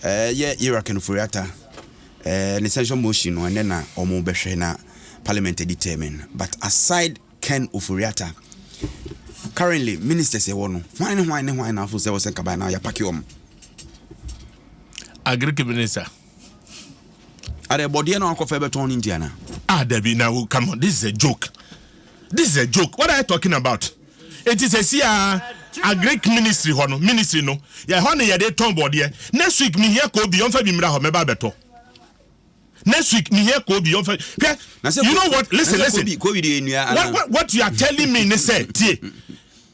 Ɛɛ yɛ Ira Kenuforiata ɛɛ ne censure motion no ɛnɛ na ɔmo bɛhwɛ na parliament ɛdi termin but aside Ken Oforiata currently ministers ɛwɔ no hwan ne hwan ne hwan na afo sɛ ɔsɛ nkaban na yapaki ɔmo. Agric minister. Adɛ bɔdeɛ na wakɔfɛ bɛtɔn ne nti anaa. Ah dabi na come on this is a joke this is a joke what are you talking about. Enti sɛsi ara agric ministry hɔ no ministry no yɛ hɔ na yɛde tɔn bɔɔdeɛ next week mehia koobi ɔmfa bi mmra hɔ mɛba abɛtɔ next week mehia koobi ɔmfa hwɛ you know what listen listen what, what, what you are telling me ne sɛ tie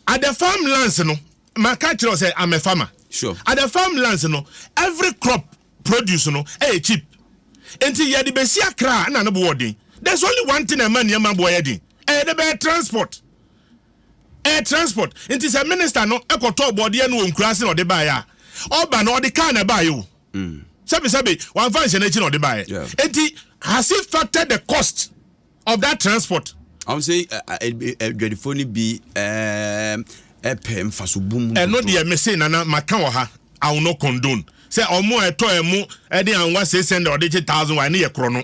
at the farmlands no maka kyerɛ sɛ I'm a farmer sure. at the farmlands no every crop produce no yɛ cheap nti yɛde bɛsi Accra a na ne boɔ den. There's only one thing a ɛma nneɛma boɔ yɛ den, ɛyɛ dɛ bɛyɛ transport. Ɛyɛ transport. Nti sɛ minister no kɔtɔɔ bɔɔdeɛ no wɔ Nkuraa ase na ɔde baeɛ a, ɔba no ɔde car na ɛbaeɛ o. Sɛbesɛbe wamfa nhyɛ n'akyi na ɔde baeɛ. Nti has he factored the cost? of that transport. ɔn sɛ adwadifo no bi ɛpɛ nfaso bu mu. ɛno deɛ mese nana maka wɔ ha i will not condone sɛ ɔmo a ɛtɔ ɛmo ɛde anwa six hundred ɔde gye thousand wa ɛno yɛ korɔ no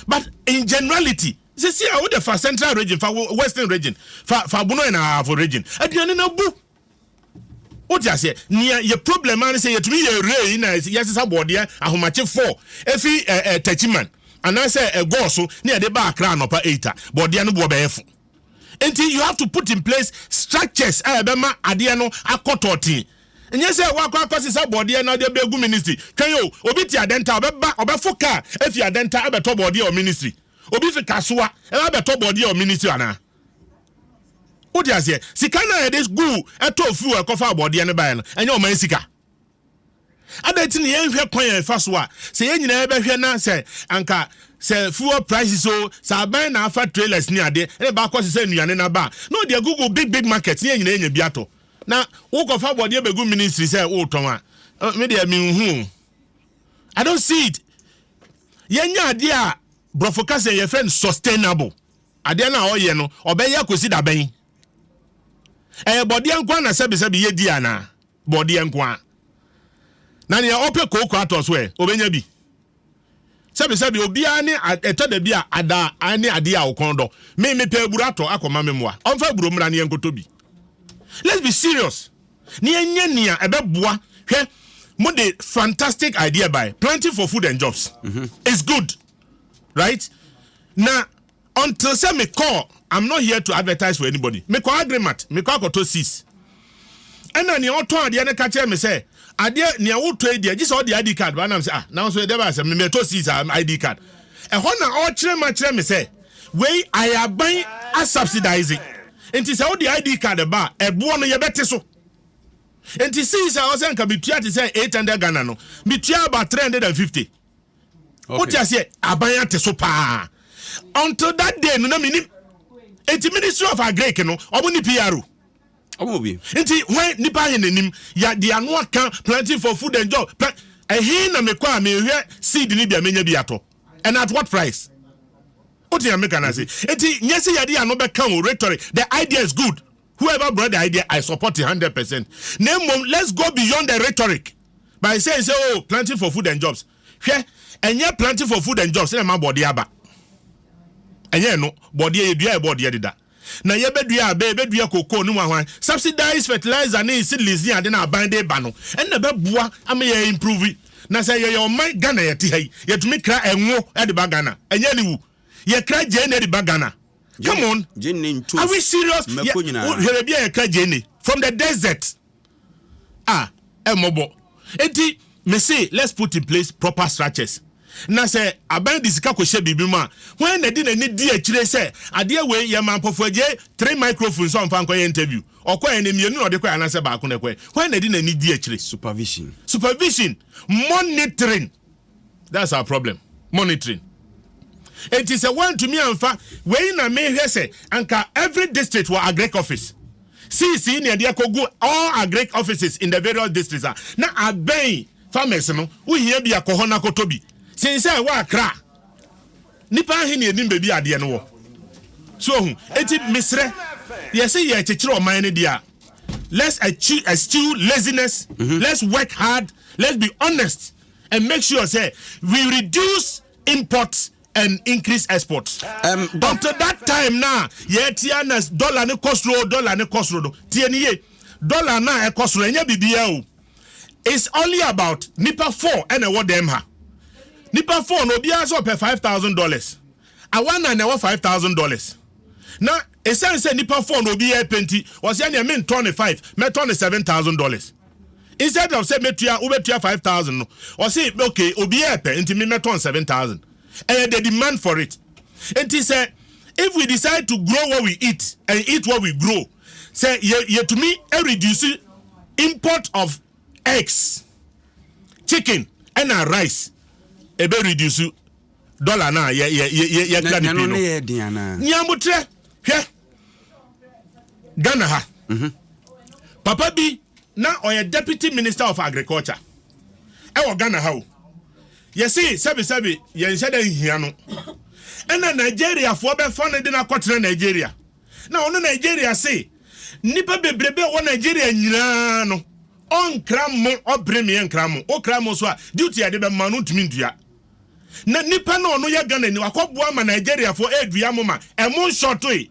but in generality sisi a wode fa central region fa western region fa fa bono ɛna ahafo region aduane na bu. Wote aseɛ? Nea yɛ problem ara ne sɛ yɛtumi yɛ rei na yɛsesa bɔɔdeɛ ahomakye four efi eh, eh, Techiman anaasɛ eh, Gɔɔ so ne yɛde ba Accra anɔpa eight a, bɔɔdeɛ no boɔ bɛyɛ fo. Nti you have to put in place structures a ɛbɛma adeɛ no akɔ tɔɔtee. Nyɛ sɛ woakɔ akɔsesa bɔɔdeɛ na wode bɛgu ministry. Twɛn o, obi te Adenta ɔbɛba ɔbɛfo kaa efi Adenta abɛtɔ bɔɔdeɛ wɔ ministry. Obi fi Kasoa ɛbɛtɔ bɔɔdeɛ wɔ ministry anaa? Wote aseɛ? Sika no a yɛde guu ɛtɔɔ fuel ɛkɔfa abɔdeɛ no baeɛ no, ɛnyɛ ɔman sika. Adɛn nti na yɛnhwɛ kwan a ɛfa so a sɛ yɛn nyinaa bɛhwɛ na sɛ anka sɛ fuel prices o, sɛ aban na afa trailers ne adeɛ na ɛba akɔsesa nnuane no aba a, na ɔde agugu big big markets na yɛn nyinaa anya bi atɔ. Na wokɔfa abɔdeɛ bɛgu ministry sɛ wotɔn a, me deɛ menhu o. I don't see it. Yɛnyɛ adeɛ a borɔfo ka sɛ yɛfrɛ no sustainable. Adeɛ no a ɔyɛ no, ɔbɛyɛ akosi da bɛn? Ɛyɛ bɔdeɛ nko ara na sɛbesɛbe yɛdi anaa? Bɔdeɛ nko ara. Na nea ɔpɛ kooko atɔ so ɛ, ɔbɛnya bi? Sɛbesɛbe obiara ne a, ɛtɔ da bi a ada a, ne adeɛ a ɔkɔn dɔ. Me, mepɛ aburo atɔ akɔma me mmoa. Ɔmfa aburo mmra na yɛnkɔtɔ bi. Let's be serious na yɛnyɛ nea ɛbɛboa. Hwɛ, mode fantastic idea bae, planting for food and jobs. It's good. right na until sɛ me call i'm not here to advertise for anybody me kɔ agreement me kɔ akɔtɔ sis ɛna nea ɔtɔn adeɛ no ka kyerɛ me sɛ adeɛ nea wotɔ yi deɛ gye sɛ ɔde id card ba nam sɛ ah na nso ɛdɛ baa sɛ me mɛtɔ sis a id card ɛhɔ na ɔkyerɛ ma kyerɛ me sɛ wei ayɛ aban asubsidize nti sɛ wode id card ba a ɛboɔ no yɛbɛte so nti sis a ɔsɛ nka metua te sɛ 800 Ghana no metua about 350 wote aseɛ aban ate so paa until that day no na menim nti ministry of agric no ɔmo ne pro nti hwan nipa ahe n'anim yɛde ano aka planting for food and job ɛhe na mekɔ a mehwɛ seed no bi a menya bi atɔ and at what price wote ameka no ase nti nyɛ sɛ yɛde ano bɛka o rhetoric the idea is good whoever brought the idea I support it hundred percent na mmom let's go beyond the rhetoric by saying sɛ oh planting for food and jobs hwɛ ɛnyɛ planting for food and jobs na ɛma bɔɔdeɛ aba ɛnyɛ ɛno bɔɔdeɛ yɛ dua yɛ bɔɔdeɛ deda na yɛbɛdua abɛ yɛbɛdua koko ne mu ahwan subsidized fertilizer ne seedlings ne ade na aban de ba no ɛna bɛboa ama yɛ improve na sɛ yɛyɛ ɔman Ghana yɛte ha yi yɛtumi kra ɛnwo de ba Ghana ɛnyɛ ne wu yɛkra gyee na de ba Ghana Come on. Jenny ntos. Are we serious? Mako nyina. Hwere bi a yɛka Jenny from the desert. Ah, ɛmɔbɔ. Enti me se let's put in place proper structures. Na sɛ aban de sika kɔhyɛ biribi mu a, hwan na de n'ani di akyire sɛ adeɛ wei yɛma mpɔfoagye three microphones a ɔmfa nkɔyɛ interview. Ɔkɔɛ no mmienu na ɔde kɔɛ anaasɛ baako na ɛkɔɛ. Hwan na de n'ani di akyire? Supervision. Supervision. Monitoring. that's our problem monitoring enti sɛ woantumi amfa wei na mehwɛ sɛ anka every district wɔ agric office cc ne ɛde akɔgu all agric offices in the various districts a na abɛn farmers no wohia bi akɔ hɔ no akɔtɔ bi sen sɛ ɛwɔ akra nipa ahe ne ɛnim baabi adeɛ no wɔ so ohu enti mesrɛ yɛse yɛ kyekyere ɔman no deɛ a let's achieve, eschew laziness mm -hmm. let's work hard let's be honest and make sure say we reduce import and increase export. Um, Until that time na yɛtia na dollar ne kɔsoro dollar ne kɔsoro no tie ne ye dollar na ɛkɔsoro ɛnyɛ biribiara o it's only about nipa four ɛna ɛwɔ dɛm ha nipa four na obiara sɛ ɔpɛ five thousand dollars awa na na ɛwɔ five thousand dollars na esan sɛ nipa four na obiara pɛ nti wɔsɛ ɛna ɛmi ntɔ ne five mɛtɔ ne seven thousand dollars. instead of sɛ mɛtua wobɛtua five thousand no ɔse okay obiara ɛpɛ nti me mɛtɔn seven thousand ɛyɛ the demand for it nti sɛ if we decide to grow what we eat and eat what we grow sɛ yɛtumi yɛ reduce import of eggs chicken ɛna rice ɛbɛ reduce dollar no a yɛkura ne pii no nea motrɛ hwɛ ghana ha mhm. papa bi na ɔyɛ deputy minister of agriculture ɛwɔ ghana ha o yɛse sɛbesɛbe yɛnhyɛ dɛ nhia no ɛna nigeriafoɔ bɛfa no de no akɔtena nigeria na ɔno nigeria se nnipa bebrebe a ɛwɔ nigeria nyinaa no ɔnkra mo ɔbere meɛ nkra mo wokra mo so a duty a ɛde bɛma no ntumi ntua na nipa na ɔno yɛ Ghana ni wakɔ boa ma Nigeria fo ɛdua mo ma ɛmo nshɔtoe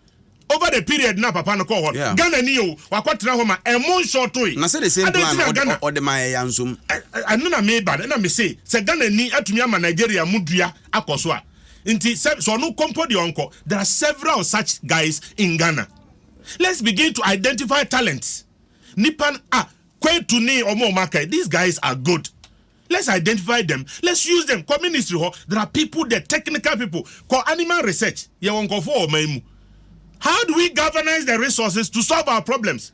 over the period na papa no kɔ hɔ no Ghana ni o wakɔ tena hɔ ma ɛmo nshɔtoe adɛn ti na Ghana ɛno na me ba no ɛna me se sɛ Ghana ni atumi ama Nigeria mo dua akɔ so a nti sɛ sɛ ɔno kɔ mpo deɛ ɔnkɔ there are several such guys in Ghana let's begin to identify talents nipa ah Kwetu ni ɔmo ɔmo aka these guys are good. Let's identify them, let's use them, kɔ ministry hɔ, there are people there, technical people, kɔ animal research, yɛwɔ nkurɔfoɔ wɔ ɔman mu. How do we governance the resources to solve our problems?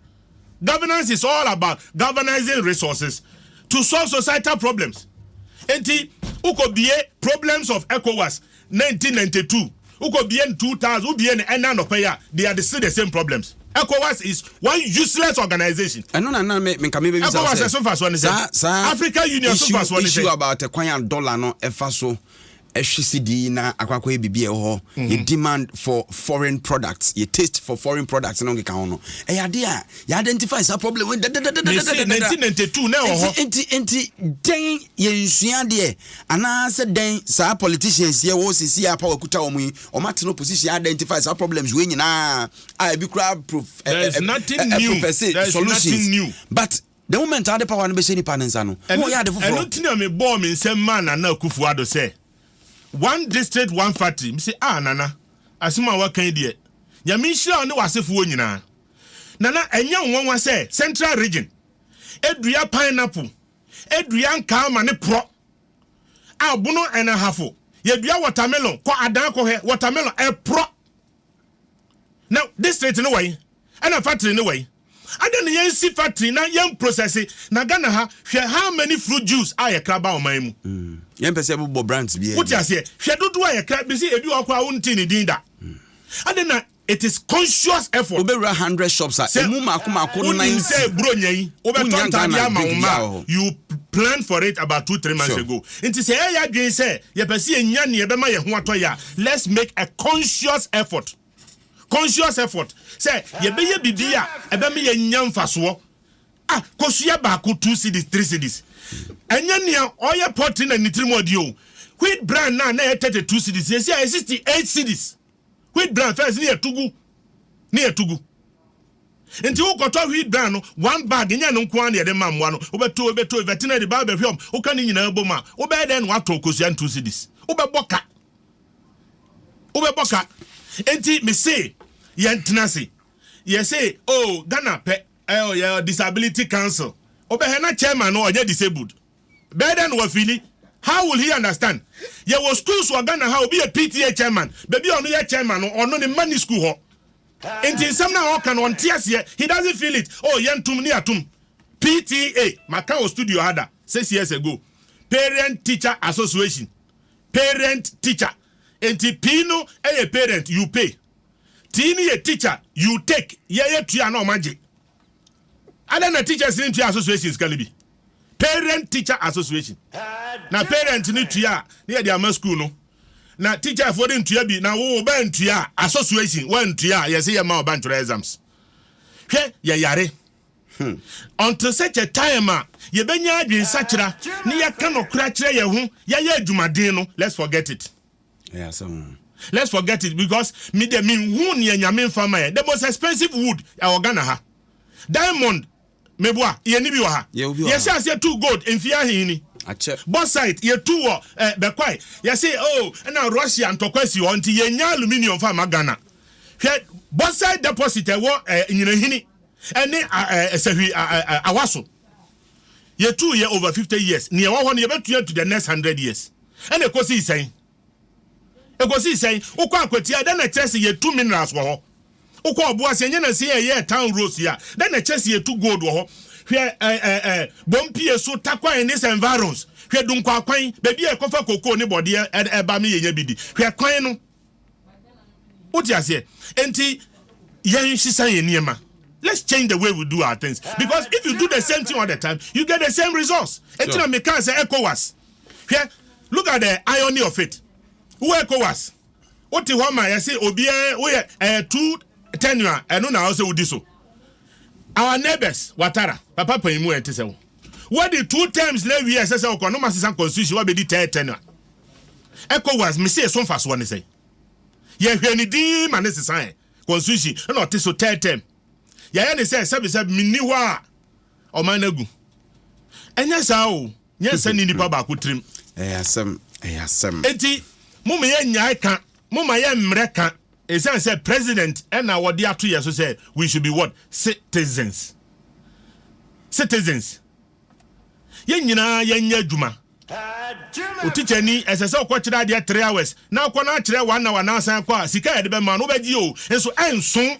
Governance is all about governising resources to solve societal problems. Enti, wokɔ bie problems of ECOWAS, Nineteen ninety two wokɔ bie no two thousand wo bie no ɛnɛ anɔpa yi a they are the still the same problems Ecowas is one useless organisation. Ɛno na na me nka me bɛ bisa sɛ. Ɛso nfasoɔ ne sɛ. Saa saa. Africa Union so nfasoɔ ne sɛ. Issue about ɛkwan a dollar no ɛfa so ɛhwe sidi na akɔ akɔ yɛ bibi ɛwɔ hɔ. Yɛ mm-hmm. demand for foreign products yɛ taste for foreign products no nkeka ho no ɛyɛ ade a yɛ identify saa problem. Dadadadadadadada. Nineteen ninety two na ɛwɔ hɔ. Nti nti nti dɛn yɛ nsua deɛ. Anaa sɛ dɛn saa politicians yɛ wɔ sisi a power kuta wɔn yi wɔn atena opposition identify saa problems wei nyinaa a ebi kura prof ɛ ɛ ɛ professor solutions but the moment a wɔde power no bɛhyɛ nipa ne nsa no wɔn yɛ ade foforɔ. ɛno ti na mi bɔɔ mi nsɛm maa nana akufo ado sɛ one district one factory mi si ah nana asɛm a waka yi deɛ nyame nhyira wo ne w'asefoɔ nyinaa nana ɛnyɛ nwanwa sɛ central region edua pineapple dua nkaa ma ne porɔ a bono ɛna hafo yɛdua watermelon kɔ adan kɔhwɛ watermelon ɛporɔ na district no wɔyi ɛna factory no wɔyi ada ne yɛn si factory na yɛn processi na Ghana ha hwɛ how many fruit juice a yɛkra ba ɔman mu mm. yɛn pɛ sɛ bobɔ branch bi wote aseɛ hwɛ dodoɔ a yɛkra bisi ebi wɔ koraa wonte ne din da mm. ada na It is conscious effort. Wobɛwura hundred shops a, ɛmu mako mako ninety. Sɛ wonim sɛ Buronya yi, wobɛtɔ ntaadeɛ ama wo mma a, you planned for it about two three months ago. Nti sɛ yɛyɛ adwene sɛ yɛpɛ sɛ yɛnya nea ɛbɛma yɛn ho atɔ yɛn a, let's make a conscious effort. Conscious effort. Sɛ yɛbɛyɛ biribi a ɛbɛma yɛanya mfasoɔ. Ah, kosua baako two cedis, three cedis. Ɛnyɛ nea ɔyɛ pɔtre na ne tirim ɔdeɛ o. Wheat bran no a na ɛyɛ thirty two cedis, seesei ayɛ sixty eight cedis. wheat bran first ne yɛto gu ne yɛto gu nti wokɔtɔ wheat bran no one bag nyɛ no nko ara na yɛde ma mmoa no wobɛto wobɛto veterinary ba bɛhwɛ ɔm woka ne nyinaa bom a wobɛyɛ dɛn na watɔ kosua ntu cedis wobɛbɔ ka wobɛbɔ ka nti mese yɛntena se yɛse oh Ghana pɛ ɛyɛ disability council wobɛhɛ na chairman no ɔnyɛ disabled Bɛyɛ dɛn na wafeeli? How will he understand? Yɛwɔ schools wɔ Ghana ha a, obi yɛ PTA chairman, baabi a ɔno yɛ chairman no, ɔno ne mma nni school hɔ. Enti nsɛm no a ɔreka no, ɔnte aseɛ. He doesn't feel it. Oh, yɛntom ne yɛatom. PTA, maka wɔ studio ha da, six years ago. Parent Teacher Association. Parent Teacher. Enti P no yɛ parent, you pay. T no yɛ teacher, you take. Yɛyɛ tua na ɔma gye. Adɛn na Teachers no ntua association sika no bi? Parent Teacher Association. Na parent no tua a, na yɛde ama school no. Na teacher foɔ de ntua bi, na wo ba ntua a, association wantua a, yɛse yɛmma ɔba ntwerɛ exams. Hwɛ, yɛyare. Hmm. Until such a time a yɛbɛnya adwensakyera ne yɛka nɔkorɛ akyerɛ yɛn ho, yɛayɛ adwumaden no, let's forget it. Ɛyɛ asɛm o. Let's forget it because me deɛ me nhu neɛ Nyame nfa ma yɛn. The most expensive wood ɛwɔ Ghana ha. Diamond me boa yɛn ni bi wɔ ha. Yɛwɔ bi wɔ ha. Yɛhyɛ aseɛ tu gold mfie ahe ni. Akyɛ. Bauxite yɛ tu wɔ eh, Bɛkwae. Yɛse oh ɛna Russia ntɔkwa si hɔ nti yɛn nya aluminium fa ma Ghana. Hwɛ bauxite deposit ɛwɔ eh, Nyinahini ɛne ah, eh, Sahwi ah, eh, Awaso. Yɛtuu yɛ over fifty years, nea ɛwɔ hɔ no yɛbɛtua atu the next hundred years. Ɛna ɛkɔsii sɛn? Ɛkɔsii sɛn? Wokɔ Akwatia a, dɛn na ɛkyerɛ sɛ yɛtu minerals wɔ hɔ? Wokɔ Ɔboase, ɛnyɛ nansa yi a yɛyɛɛ Town Roads yi a, dɛn na ɛkyerɛ sɛ yɛtu gold wɔ hɔ? Hwɛ ɛ ɛ ɛ Bompie so, Tarkwa and its environs. Hwɛ Dunkwakwan, baabi a yɛkɔfa cocoa ne bɔdeɛ ba me yɛnya bi di. Hwɛ kwan no. What you say? Enti yen shisa yen niema. Let's change the way we do our things because if you do the same thing all the time, you get the same results. Enti na me can say ECOWAS. Here, look at the irony of it. Who ECOWAS? What the home I say obi eh we eh two tenure eh no na also udi so. Our neighbors watara papa panimu enti se wo. Wadi two terms na awie a ɛsɛ sɛ ɔkɔ na ɔma sesa constitution wabɛdi third term a ECOWAS mese ɛso mfasoɔ ne sɛn? Yɛhwɛ ne din yi ma ne sesaɛ constitution ɛna ɔte so third term yɛayɛ ne sɛ sɛbesɛbe menni hɔ a ɔman no agu ɛnyɛ saa o nyɛ nsɛ ne nipa baako tirim ɛyɛ asɛm ɛyɛ asɛm. Enti mo ma yɛn nyae ka mo ma yɛn mmerɛ ka. Esiane sɛ president na wɔde ato yɛn so sɛ we should be what? Citizens. Citizens. Yɛn nyinaa yɛnyɛ adwuma. Wo tikyani, ɛsɛ sɛ ɔkɔkyerɛ adeɛ three hours na akɔ no akyerɛ one hour na asan akɔ a, sika a yɛde bɛma no wobɛgye o, nso ɛnso.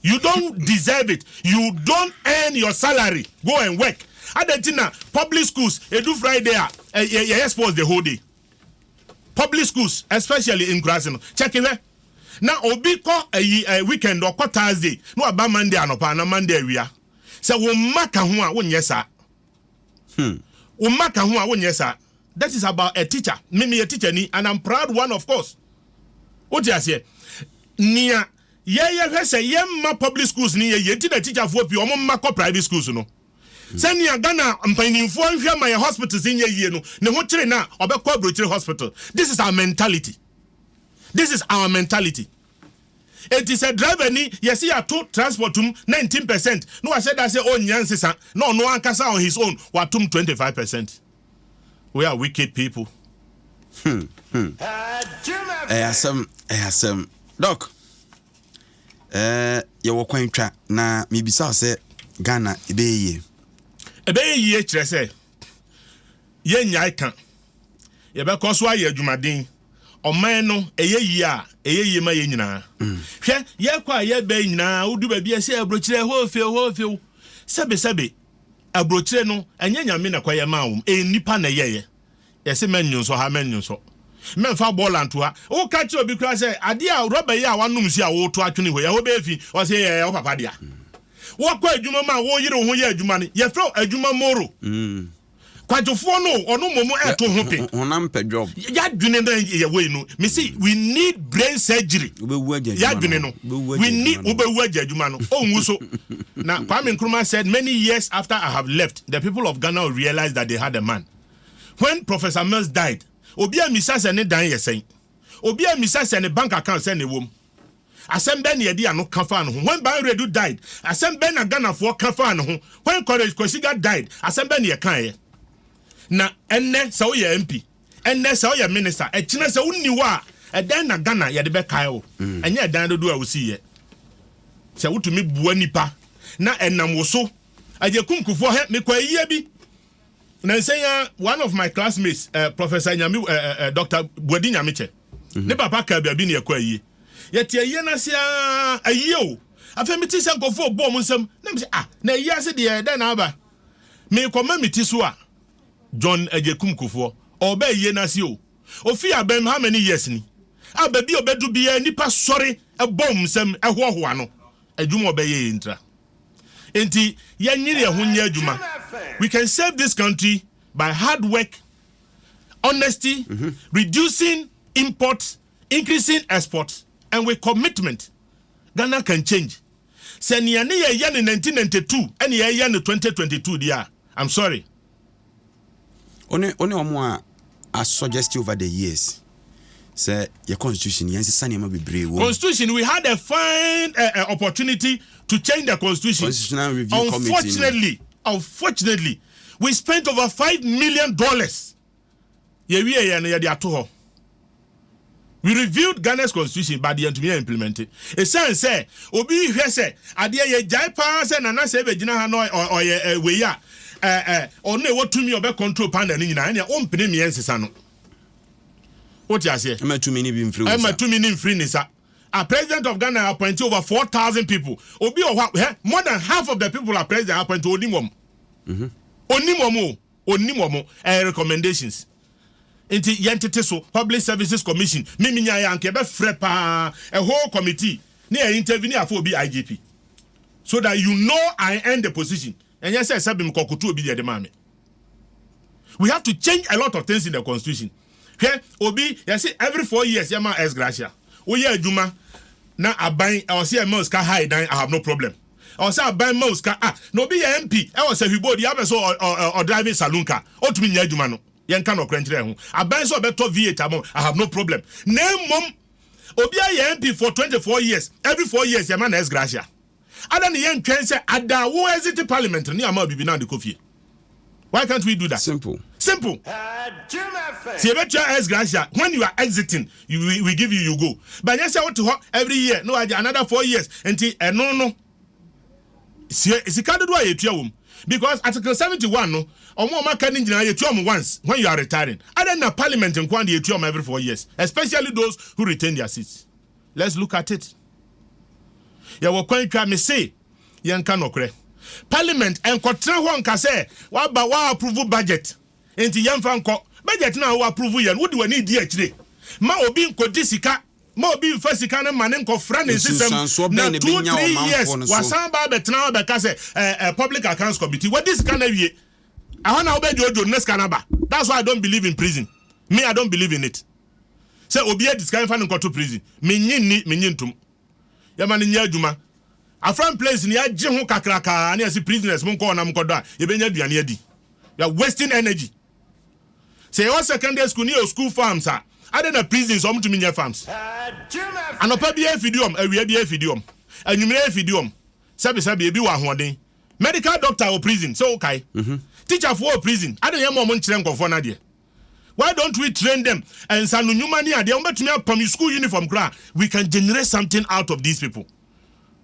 You don't deserve it. You don't earn your salary. Go and work. Adɛn nti na public schools, ɛdu Friday a, yɛyɛ sports the whole day? public schools especially nkuraase no check hwɛ na obi kɔ ayi eh, weekend ɔkɔ Thursday na waba Monday anɔpa ana Monday awia sɛ wo mma ka ho a wonyɛ saa hmm. wo mma ka ho a wonyɛ saa that is about a teacher me meyɛ teacher ni and I'm proud one of course wote aseɛ nea yɛyɛ hwɛ sɛ yɛmma public schools ni yɛ yɛ nti na teacherfoɔ pii ɔmo mma kɔ private schools no Sɛ nea Ghana mpaninfoɔ nhwɛ ma yɛn hospitals nyɛ yie no, ne ho kyere no a, ɔbɛkɔ abrokyire hospital. This is our mentality. This is our mentality. Enti sɛ driver ni yɛse yɛato transport mu 19 percent na wahyɛ da sɛ ɔnnya nsesa na ɔno ankasa on his own watom 25 percent. We are wicked people. Hmm, hmm. Ɛyɛ asɛm, ɛyɛ asɛm. Doc. Ɛɛ, yɛwɔ kwan twa, na mebisa wo sɛ, Ghana, ɛbɛyɛ yie? Ɛbɛyɛ yie kyerɛ sɛ, yɛrennyae ka. Yɛbɛkɔ so ayɛ adwumaden. Ɔman no, ɛyɛ yie a, ɛyɛ yie ma yɛn nyinaa. Hwɛ, yɛkɔ a yɛba yi nyinaa, wodu baabi a ɛsɛ aburokyire, hɔ few, hɔ few. Sɛbesɛbe, aburokyire no, ɛnyɛ Nyame na ɛkɔyɛ maa wɔn, ɛyɛ nnipa na ɛyɛeɛ. Yɛse mɛnnwo nsɔ ha, mɛnnwo nsɔ, mɛmfa bɔɔla nto ha. Woka kyerɛ obi koraa sɛ, adeɛ a rɔba yi a woanom nsuo a woreto atwene hɔ yi, ɛhɔ bɛyɛ fi? Ɔse, Ɛyɛ wo papa dea. Woakɔ adwuma mu a woreyere wo ho yɛ adwuma no, yɛfrɛ wo adwuma moro. Kwadwofoɔ no o, ɔno mmom ɛreto ho pe. Honam pɛ job. Y'adwene no yɛ wei no. Mese, we need brain surgery. Wobɛwu agya adwuma no. Y'adwene no. We need, wobɛwu agya adwuma no. Ɔnwu so. Na Kwame Nkrumah said many years after I have left, the people of Ghana will realize that they had a man. When Professor Mills died, obi ammisa sɛ ne dan yɛ sɛn. Obi ammisa sɛ ne bank account sɛn na ɛwɔ mu. Asɛm bɛn na yɛde ano ka faa ne ho? When Baah Redu died, asɛm bɛn na Ghanafoɔ ka faa ne ho? When Courage Kwesiga died, asɛm bɛn na yɛkaeɛ? Na ɛnnɛ sɛ woyɛ MP, ɛnnɛ sɛ woyɛ Minister, ɛkyena sɛ wonni hɔ a, ɛdɛn na Ghana yɛde bɛkae wo? Ɛnyɛ ɛdan dodoɔ a wosiiɛ. Sɛ wotumi boa nnipa na ɛnam wo so, Agyekum Kufuor hɛ, mekɔ ayiyɛ bi. Nansa yi ara, one of my classmates, eh, Professor Nyame, eh, eh, eh Dr. Buadi Nyamekyɛ, mhm. ne papa kaa baabi ne yɛkɔ ayie. Yɛte ayie no ase ara, ayie o. Afei mete sɛ nkurɔfoɔ ɔbɔɔ mo nsam, na mesɛ, ah, na ayie ase deɛ dɛn na aba? Mekɔma me ti so a, John Agyekum Kufoɔ, ɔba ayie no ase o. Ofii abɛm how many years ni? A baabi a ɔbɛdu biara, nnipa sɔre, ɛbɔ wɔn nsam, ɛhoahoa no. Adwuma ɔbɛyɛ yɛ ntira. Enti yɛnyere yɛn ho nyɛ adwuma. We can save this country by hard work, honesty, mm-hmm. reducing import, increasing export, and with commitment. Ghana can change. Sɛ nea ne yɛyɛ no 1992 ɛne yɛyɛ no 2022 deɛ a, I'm sorry. Wo ne wo ne wɔn a asɔ just over the years sɛ yɛ constitution yɛn sisa nneɛma bebree wɔ. constitution we had a fine uh, uh, opportunity to change the constitution. constitutional review committee unfortunately unfortunately we spent over five million dollars. yɛwieɛ no yɛde ato hɔ we reviewed Ghana's constitution but yɛntumi yɛ implement ɛsiane sɛ obi hwɛ sɛ adeɛ yɛ gyae paa sɛ nana sɛ ɛbɛgyina ha na ɔyɛ eh, wei a eh, eh, ɔno ɛwɔ tumi ɔbɛ control panel no nyinaa ɛneɛ wompene mmeɛ nsesa no wote aseɛ ɛma tumi no bi mfiri wo nsa tumi no mfiri ne sa a president of Ghana appoint over 4,000 people obi wɔ hɔ more than half of the people are president appoint onim wɔm onim wɔm o ɔnnim wɔn ɛɛ recommendations nti yɛn tete so public services commission mimi nya yɛ anka ɛbɛ frɛ paa a whole committee ne yɛ interview ne yɛ afɔ obi IGP so that you know I earn the position ɛnyɛ sɛ sɛbi mi kɔ koto obi deɛ de maa mi we have to change a lot of things in the constitution hwɛ obi yɛsi every four years yɛ ma ex gratia woyɛ adwuma na aban ɔsi ɛmɛ osika ha dan I have no problem. Ɛwɔ sɛ aban ma wo sika a na obi yɛ MP wɔ Sahwibo deɛ abɛ sɛ ɔ drive saloon car ɔtumi nyɛ adwuma no yɛnka nɔkorɛ nkyerɛ ɛho aban sɛ ɔbɛtɔ V8 ama wo I have no problem na mmom obi ayɛ MP for 24 years every 4 years yɛma no ex gratia adɛn na yɛntwɛn sɛ ada wo exit parliament no ne ama wo bibi na wode kɔ fie Why can't we do that? Simple. Simple. Sɛ yɛbɛtua S gracia, when you are exiting, you, we, we give you, you go. But nyɛ sɛ wote hɔ every year, na wagye another four years. Nti ɛno no, sie sika dodoɔ a yɛtua wom. Because Article 71 no, ɔmo a ɔmo aka no nyinaa yɛtua ɔmo once when you are retiring. Adɛn na parliament nko ara na yɛtua ɔmo every four years, especially those who retain their seats. Let's look at it. Yɛwɔ kwan twa, mese. yɛnka nɔkorɛ. Parliament nkɔtena hɔ nka sɛ waba wa approve budget nti yɛmfa nkɔ. Budget no a wo approve yɛ no wode w'ani redi akyire ma obi nkɔdi sika ma obi mfa sika no ma no nkɔfra ne nsesam na two three years wasan aba abɛtena hɔ abɛka sɛ eh, eh, public accounts committee wadi sika no awie. Ɛhɔ na wobɛdwoodwo no na sika no aba. That's why I don't believe in prison. Me I don't believe in it. Sɛ obi adi sika mfa no nkɔto prison. Menye nni, menye ntom. yɛma no nyɛ adwuma. Afram place no yɛagye ho kakrakaa ne yɛse prisoners monkɔ hɔ na monkɔdɔ a yɛbɛnya aduane adi. You are wasting energy. Sɛ yɛwɔ secondary school ne yɛwɔ school farms a, adɛn na prisons wɔn tumi nyɛ farms? Anɔpa biara efidi wɔn, awia biara efidi wɔn, anwummerɛ efidi wɔn, sɛbesɛbe ebi wɔ ahoɔden. Medical doctor wɔ prison, sɛ wokae. Teacherfoɔ wɔ prison, adɛn na yɛmma wɔn nkyerɛ nkurɔfoɔ no adeɛ? why don't we train them ɛnsano nnwuma ne adeɛ wɔbɛtumi apam school uniform koraa we can generate something out of these people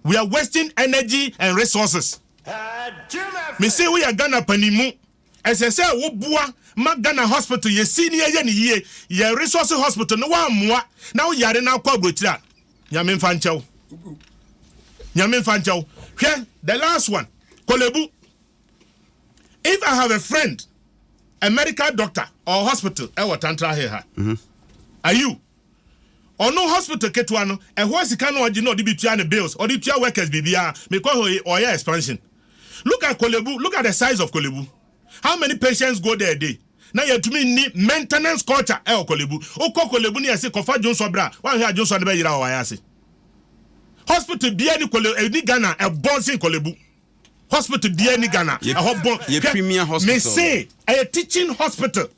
we are wasting energy and resources me se woyɛ Ghana panimu ɛsɛ sɛ woboa ma Ghana hospital yɛsi ne yɛyɛ ne yie yɛ resource hospital ne woammoa na woyare no akɔ aburokyiri a nyame mfa nkyɛw nyame mfa nkyɛw hwɛ the last one kɔlɛbu If I have a friend, a medical doctor or hospital ɛwɔ tantra hill ha. Mm -hmm. Are you? ɔno hospital ketewa no ɛhɔ sika no ɔgye na ɔde bi tua ne bills ɔde tua workers biribiara mekɔ hɔ yi ɔyɛ expansion look at kolebu look at the size of kolebu how many patients go there a day na yɛtumi nni maintenance culture ɛwɔ kolebu wokɔ kolebu ne yɛse kɔfa dwonsɔ berɛ a woanhwɛ a dwonsɔ no bɛyera wɔ wayɛ ase hospital bia ni kolebu ɛni ghana ɛbɔn sen kolebu hospital biaa ni Ghana ɛhɔ bɔn hwɛ me se ɛyɛ teaching hospital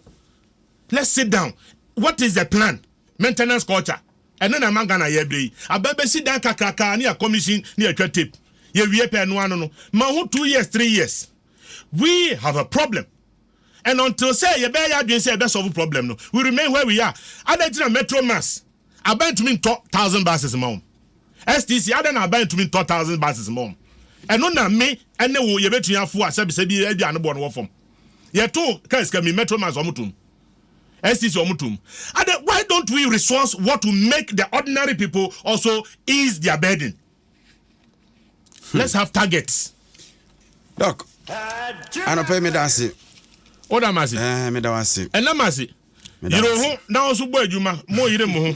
let's sit down what is the plan maintenance culture ɛno na ɛma Ghana yɛ brɛ yi aba bɛsi dan kakrakaa ne yɛ commission ne yɛ twa tape yɛ wie pɛ ɛno ano no ma ho two years three years we have a problem. and until sɛ yɛbɛyɛ yɛn adwene sɛ yɛbɛ solve problem no, we remain where we are. Adɛn nti na Metro Mass aban ntumi ntɔ thousand buses mma wɔn? STC adɛn na aban ntumi ntɔ thousand buses mma wɔn? Ɛno na me ne wo yɛbɛtumi afoa sɛ bisɛ bi ebi ano boɔ no wɔ fam. Yɛto kaa sika mi, Metro Mass wɔn tom, STC wɔn tom. Adɛn, why don't we resource what will make the ordinary people also ease their burden? Hmm. Let's have targets. Doc, anɔpɛ meda ase. Woda m ase? Eh, meda wo ase. Ɛnam ase. Yere ho na wo nso bɔ adwuma. Mo yere mo ho.